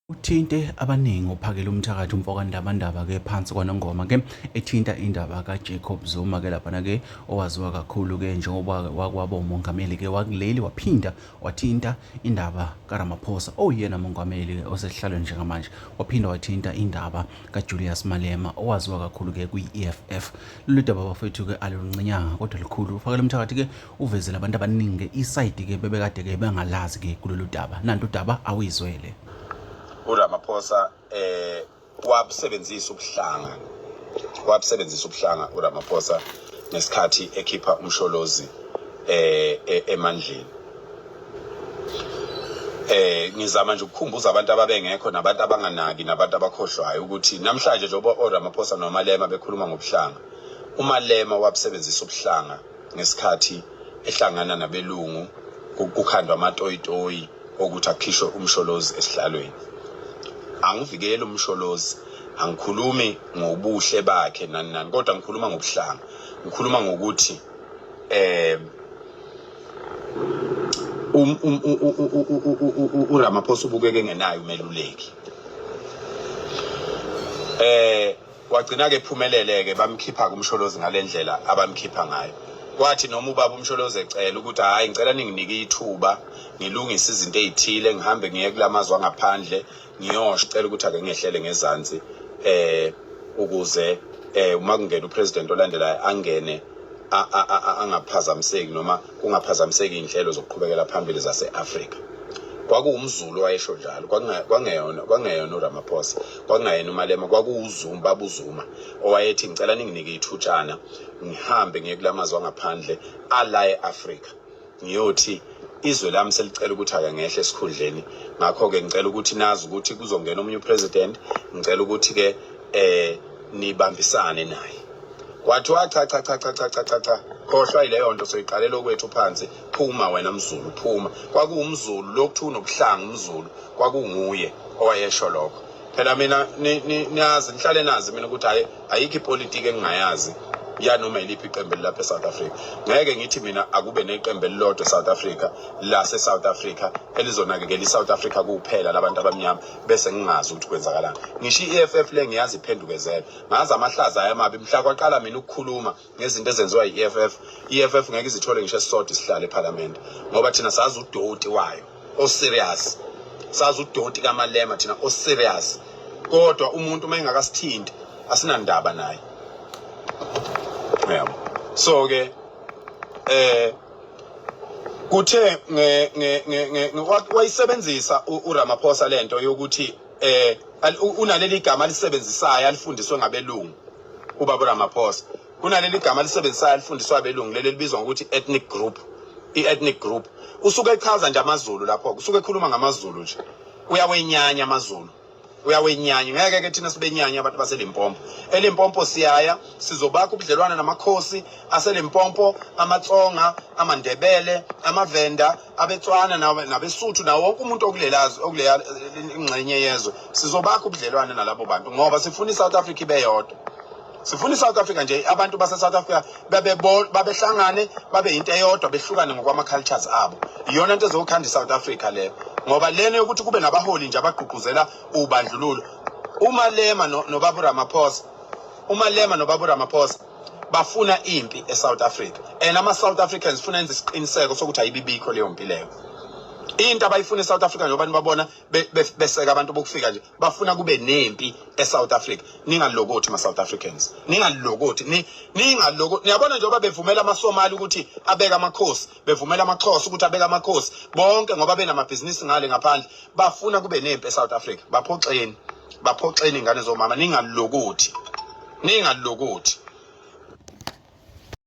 uthinte abaningi ophakela umthakathi umfokandabandaba ke phansi kwanongoma ke ethinta indaba kaJacob Zuma ke laphana ke owaziwa kakhulu ke njengoba wakwaba umongameli ke wakuleli waphinda wathinta indaba kaRamaphosa oyena oh, mongameli osesihlalweni njengamanje waphinda wathinta indaba kaJulius Malema owaziwa kakhulu ke kwi-EFF lolu daba bafethu ke aluluncinyanga kodwa likhulu ufakela umthakathi ke uvezele abantu abaningi isayidi ke bebekade ke bengalazi ke kulolu daba nanto udaba awuyizwele uRamaphosa eh wabusebenzisa ubuhlanga wabusebenzisa ubuhlanga uRamaphosa ngesikhathi ekhipha umsholozi eh e, emandleni eh ngizama nje ukukhumbuza abantu ababengekho nabantu abanganaki nabantu abakhohlwayo ukuthi namhlanje njengoba oRamaphosa noMalema bekhuluma ngobuhlanga uMalema wabusebenzisa ubuhlanga ngesikhathi ehlangana nabelungu kukhandwa amatoyitoyi okuthi akhishwe umsholozi esihlalweni angivikeli umsholozi angikhulumi ngobuhle bakhe nani nani kodwa ngikhuluma ngobuhlanga ngikhuluma ngokuthi eh um, um, uRamaphosa ubukeke engenayo umeluleki eh Wagcina-ke ephumelele-ke bamkhipha kuMsholozi ngale ndlela abamkhipha ngayo. Kwathi noma ubaba uMsholozi ecela ukuthi hhayi ngicela ninginike ithuba ngilungise izinto ey'thile ngihambe ngiye kula mazwe angaphandle ngiyosho cela ukuthi ake ngehlele ngezansi eh ukuze eh uma kungena upresident olandelayo angene a- a- a- a- angaphazamiseki noma kungaphazamiseki iy'nhlelo zokuqhubekela phambili zase-afrika kwakuwumzulu owayesho njalo kwakunga- kwangeyona kwangeyona uramaphosa kwakungayena umalema kwakuwuzuma baba uzuma owayethi ngicela ninginike ithutshana ngihambe ngiye kulamazwe angaphandle ala e-afrika ngiyothi izwe lami selicela ukuthi ake ngehle esikhundleni ngakho-ke ngicela ukuthi nazi ukuthi kuzongena omunye upresident ngicela ukuthi-ke um nibambisane naye kwathiwa cha cha cha cha cha cha cha cha khohlwa yileyo nto soyiqalela okwethu phansi Phuma wena mzulu phuma. Kwakuwumzulu lokuthiwa unobuhlanga umzulu kwakunguye owayesho lokho. Phela mina niyazi nihlale nazi mina ukuthi hayi ayikho ipolitiki engingayazi yanoma yiliphi iqembu elilapha eSouth Africa. Ngeke ngithi mina akube neqembu elilodwa eSouth Africa lase South Africa elizonakekela iSouth Africa kuphela labantu abamnyama bese ngingazi ukuthi kwenzakalani. Ngisho iEFF le ngiyazi iphendukezela. Ngazi amahlaza ayamabi mhla kwaqala mina ukukhuluma ngezinto ezenziwa yi-EFF i-EFF ngeke izithole ngisho esisodwa isihlalo ephalamende ngoba thina sazi udoti wayo oserious sazi udoti kamalema thina oserious kodwa umuntu uma engakasithinti asinandaba naye yabo so ke eh kuthe nge nge nge wayisebenzisa uRamaphosa lento yokuthi eh unaleli gama alisebenzisayo alifundiswe ngabelungu uBaba Ramaphosa kunaleli gama lisebenzisayo alifundiswa abelungu leli libizwa ngokuthi ethnic group i-ethnic group usuke echaza nje amaZulu lapho usuke ekhuluma ngamaZulu nje uyawenyanya amaZulu uyawenyanya ngeke ke thina sibenyanya abantu baselimpompo elimpompo siyaya sizobakha ubudlelwane namakhosi aselimpompo amatsonga amandebele amavenda abetswana nabesuthu nawo wonke umuntu okulelazi okuleya ingxenye yezwe sizobakha ubudlelwane nalabo bantu ngoba sifuna i-south africa ibe yodwa sifuna i-south africa nje abantu base-south africa babehlangane babe yinto eyodwa behlukane ngokwama-cultures abo iyona nto ezokhanda i-south africa leyo ngoba lena yokuthi kube nabaholi nje abagqugquzela ubandlululo umalema nobaba uramaphosa umalema nobaba uramaphosa bafuna impi eSouth Africa and ama South Africans funa enze isiqiniseko sokuthi ayibibikho leyo mpi leyo into abayifuna eSouth Africa njengoba nibabona beseka abantu bokufika nje bafuna kube nempi eSouth Africa ningalokothi ma South Africans ningalokothi ningaloko niyabona njengoba bevumela amaSomali ukuthi abeka amakhosi bevumela amaXhosa ukuthi abeka amakhosi bonke ngoba benamabhizinisi ngale ngaphandle bafuna kube nempi eSouth Africa baphoxeni baphoxeni ingane zomama ningalokothi ningalokothi